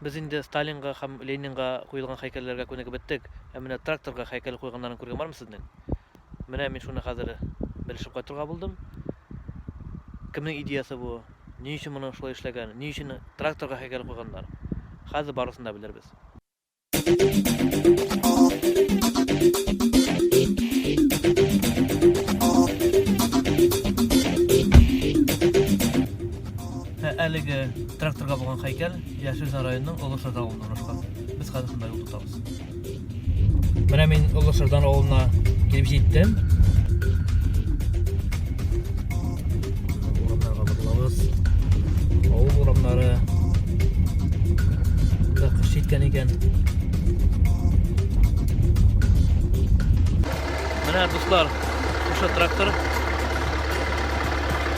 Без инде Сталинга һәм Ленинга куелган һәйкәлләргә күнегеп беттек, ә менә тракторга һәйкәл куйганнарын күргән бармы сезнең? Менә мин шуны хәзер белешеп кайтырга булдым. Кемнең идеясы бу? Ни өчен моны шулай эшләгән? Ни өчен тракторга һәйкәл куйганнар? Хәзер барысын да белербез. Ә әлеге тракторга булган хәйкәл Яшелзан районының Олы Шырда авылында урнашкан. Без хәзер шунда юл тотабыз. Менә мин Олы Шырдан авылына килеп җиттем. Урамнарга барлабыз. Авыл урамнары да кыш җиткән икән. Менә дуслар, ошо трактор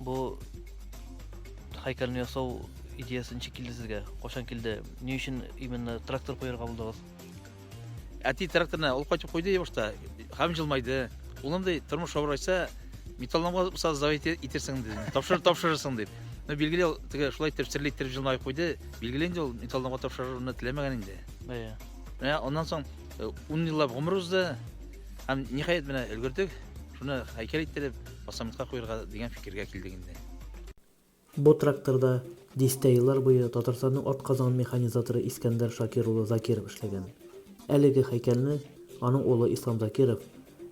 Бу һәйкәлне ясау идеясы ничек килде сезгә? Кашан килде? Ни өчен именно трактор куярга булдыгыз? Әти тракторны ул кайтып куйды башта, һәм җылмайды. Улым ди, тормыш авыр айтса, металломга булса завет итерсең ди. Тапшыр, тапшырырсың дип. Ну, билгеле, ул теге шулай итеп серле итеп җылмай куйды. Билгеле инде ул металломга тапшыруны теләмәгән инде. Бәя. Менә аннан соң 10 э, еллап гомер узды. Һәм ниһаять менә өлгердек. Шуны һәйкәл иттереп, Басамытка куерга дигән фикергә килдек инде. Бу тракторда дистә еллар буе Татарстанның атказанган механизаторы Искәндәр Шакир улы Закиров эшләгән. Әлеге һәйкәлне аның улы Ислам Закиров,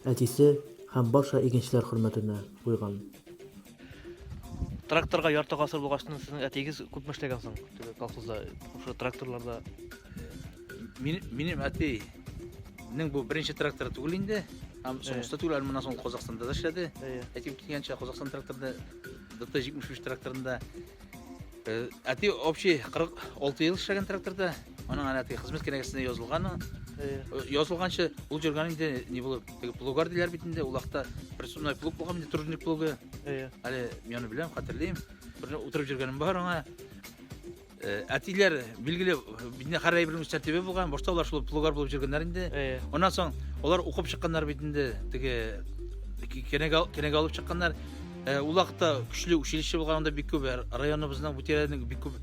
әтисе һәм барча игенчеләр хөрмәтенә куйган. Тракторга ярты гасыр булгачтын сезнең әтиегез күпме эшләгән соң теге колхозда, шушы тракторларда? Минем әтинең бу беренче тракторы түгел инде. Һәм соңгысы түгел, әле моннан соң Казахстанда да эшләде. Әтим килгәнчә Казахстан тракторында ДТ-73 тракторында әти общий 46 ел эшләгән тракторда. Аның әле әти хезмәт кенәгәсенә язылган. Язылганча ул җөргән инде не булып, теге плугар диләр бит инде, ул вакытта персональный плуг булган инде, тружник плугы. Әле мин аны беләм, хәтерлим. Бер утырып җөргәнем бар аңа. Э, әтиләр билгеле бинәхәр әйбер мөстәтибе булган башта алар шул плугар булып жүргәннәр инде аннан соң алар укып чыкканнар бит инде теге кенәгә алып чыкканнар э, ул вакытта көчле училище булган анда бик күп э, районыбызның бу тирәнең бик күп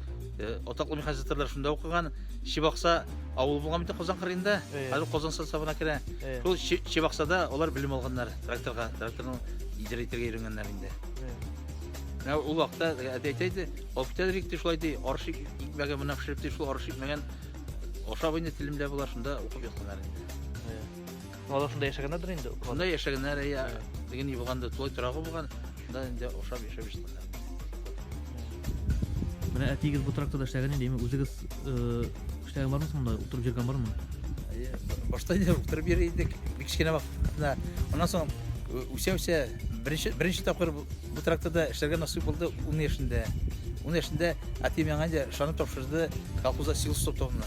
атаклы механизаторлар шунда укыган чебакса авылы булган бит казан кырыенда хәзер казан составына керә шул чебаксада алар белем алганнар тракторга тракторны идәрә итәргә өйрәнгәннәр инде ул вакытта әти әйтә иде Офтәл рикти шулай ди, арыш икмәге менә пешереп ди, шул арыш икмәген ашап инде телемдә була, шунда укып ятканнар инде. Алар шунда яшәгәннәрдер инде. Шунда яшәгәннәр, я, дигән булган да, тулай торагы булган, шунда инде ашап яшәп яшәгәннәр. Менә әтиегез бу тракторда эшләгән инде, үзегез Эшләгән бармы соң монда? Утырып йөргән бармы? Әйе, башта инде утырып йөри идек, бик кечкенә вакытта. Аннан соң э, үсә-үсә беренче беренче тапкыр бу бу тракторда эшләргә насыйп булды 10 яшендә. 10 яшендә әти миңа инде шаны тапшырды колхозда силос топтавына.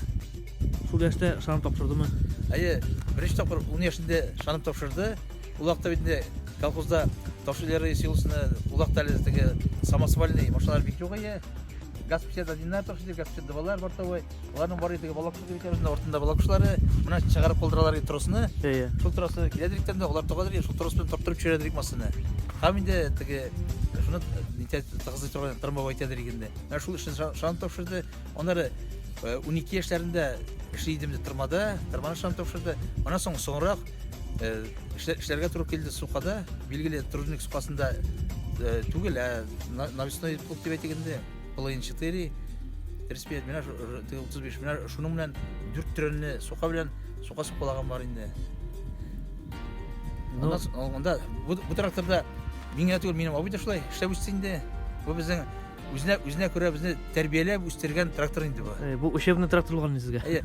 Шул яшьтә шанып тапшырдымы? Әйе, беренче тапкыр 10 яшендә шанып тапшырды. Ул вакытта бит инде колхозда ташилары силосны, ул вакытта әле теге самосвальный машиналар бик юк иде. газ печәт одиннар токчы газ дывалар бортовой аларның бары теге балак кебек үзенә ортында балак кошлары менә чыгарып калдыралар ди тросны иә шул тросны киләдер икән дә алар тагадыр ди шул трос белән тартырып төшерәдер ик машина һәм инде теге шуны нитә тыгызлый торган трамвай әйтәдер ик инде менә шул эшне шаны тапшырды аннары унике яшьләрендә эшли идем ди тырмада тырманы шаны тапшырды аннан соң соңрак Э, эшләргә туры килде сукада, билгеле тружник сукасында э, түгел, ә навесной клуб дип әйтик инде, половин 4, 35 менә 35 менә шуның белән дүрт төренне сука белән сука сукалаган бар инде. Ну, анда бу тракторда миңа түгел, минем абый да шулай эшләп үсте инде. Бу безнең үзенә үзенә күрә безне тәрбияләп үстергән трактор инде бу. Э, бу учебный трактор булган сезгә. Әйе,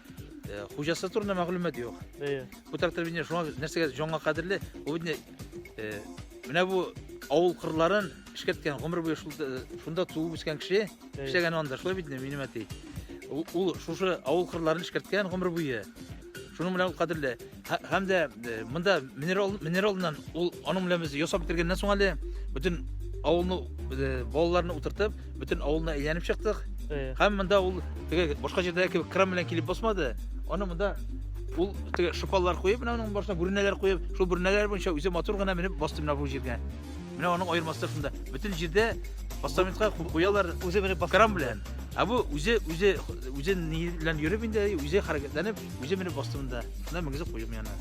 Э, хуҗасы турында мәгълүмат юк әйе бу трактор бит шуңа нәрсәгә җанга кадерле ул бит э, менә бу авыл кырларын эшкәрткән гомер буе э, шунда туып үскән кеше эшләгән анда шулай бит минем әти ул шушы авыл кырларын эшкәрткән гомер буе шуның белән ул кадерле Һәм дә монда минерал минералдан ул аның белән без ясап бетергәннән соң әле бөтен авылны балаларны утыртып, бөтен авылны әйләнеп чыктык. Һәм монда ул теге башка җирдә кебек кран белән килеп басмады. Аны монда ул теге шупаллар куеп, менә аның башына бүрнәләр куеп, шул бүрнәләр буенча үзе матур гына менеп басты менә бу җиргә. Менә аның аермасы шунда. Бөтен җирдә постаментка куялар үзе менеп баскан белән. Ә бу үзе үзе үзен ни белән йөреп инде, үзе хәрәкәтләнеп Үзе менеп басты монда. Менә мөгезе куюм яна.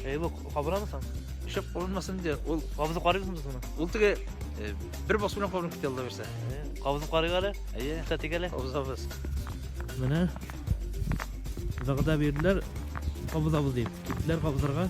Әй, бу кабырамы соң? Шөп кабынмасын инде. Ул кабызып карыйсыңмы соң? Ул теге э, бер басу белән кабынып китә алла бирсә. Э, кабызып карыйк әле. Әйе. Та тигәле. Кабызабыз. Менә вәгъдә бирделәр кабызабыз дип. Киттеләр кабызырга.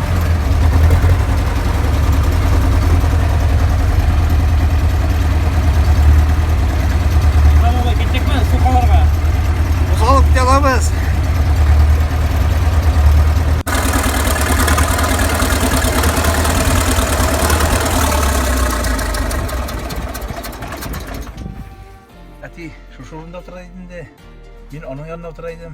әти шушы урында утыра идем дә мин аның янында утыра идем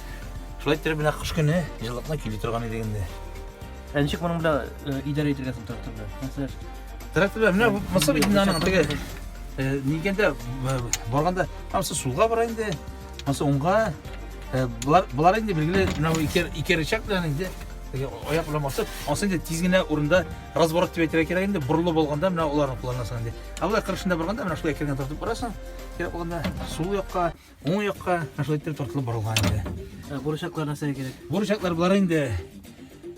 Шулай иттереп менә кыш көне җылылыкны кили торган идек инде. Ә ничек моның белән э, идарә итәргә соң трактор белән? Мәсәлән, Тракторлар менә бу мысыр бит инде аның теге э, нигәндә э, барганда анысы сулга бара инде, анысы уңга. Э, Болар болар инде билгеле менә бу ике ике рычаг белән инде теге аяк белән басып, анысы инде тиз генә урында разворот дип әйтергә кирәк инде, борылу булганда менә аларны кулланасың инде. Ә болай кырышында барганда менә шулай кергән тартып барасың, кирәк булганда сул якка, Уң якка шулай итеп тартылып барылган инде. Ә бурычаклар нәрсә кирәк? Бурычаклар болар инде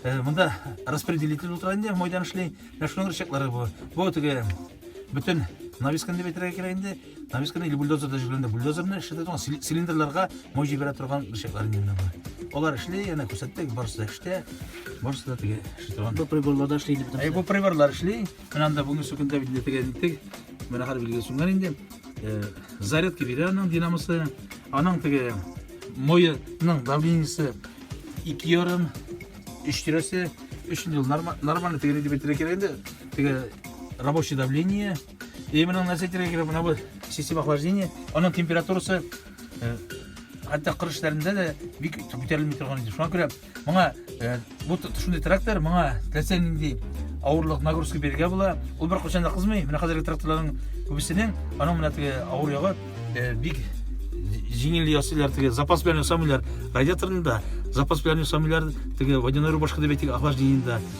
э, монда распределитель утыра инде, майдан эшли. Менә шуның бурычаклары бу. Бу теге бөтен нависканы дип әйтергә кирәк инде. Нависканы или бульдозерда җибәргәндә бульдозерны эшләтә торган цили- цилиндрларга май җибәрә торган бурычаклар инде менә бу. Алар эшли, әнә күрсәттек, барысы да эштә. Барысы да теге эшли торган. Бу приборларда эшлейді. Ә бу приборлар эшли. Менә анда бүгенге сүкендә бит нәтиҗәгә җиттек. Менә хәл билгеле сүнгән инде. Э, зарядка бирә аның динамосы. Аның теге моеның давлениесе 2 ярым, 3 тирәсе. Өчен ел нормально теге дип әйтергә кирәк инде. Теге рабочий давление. И менә нәрсә әйтергә кирәк, менә бу система охлаждения, аның температурасы э, хәтта кыр эшләрендә дә бик күтәрелми торган иде. Шуңа күрә Моңа э, бу шундый трактор, моңа теләсә нинди авырлык нагрузка бирергә була. Ул бер кочанда кызмый. Менә хәзерге тракторларның күбесенең аның менә теге авыр ягы э, бик җиңел ясыйлар теге запас белән ясамыйлар радиаторында запас белән ясамыйлар теге водяной рубашка дип әйтик охлаждениедә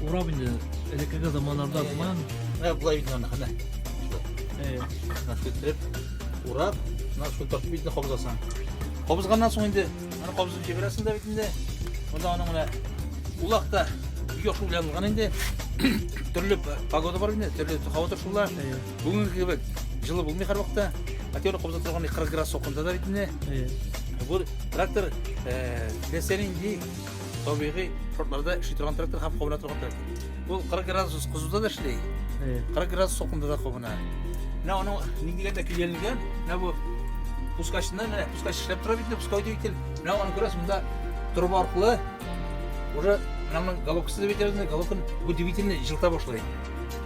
Урап инде элеккеге заманнарда сыман. Ә болай бит аны хәнә. Э. Наскетреп урап, нас шул тартып битне кабызасың. Кабызганнан соң инде аны кабызып җибәрәсең дә бит инде. Монда аның менә улак та юк белән булган инде. Төрле погода бар инде, төрле һава торышлар. Бүгенге кебек жылы булмый һәрвакытта. Актер кобза торган 40 градус сокында да бит инде. Бу трактор теләсә нинди табигый шартларда эшли торган трактор һәм кабына торган трактор. Бу 40 градус кызуда да эшли. 40 градус сокында да кабына. Менә аның ник дигәндә килгәнлеген, менә бу пускачны, менә пускач эшләп тора бит, пускай дип ител. Менә аны күрәсез, монда труба аркылы уже менә моның головкасы дип әйтәбез, головканы бу двигательне җылыта башлый.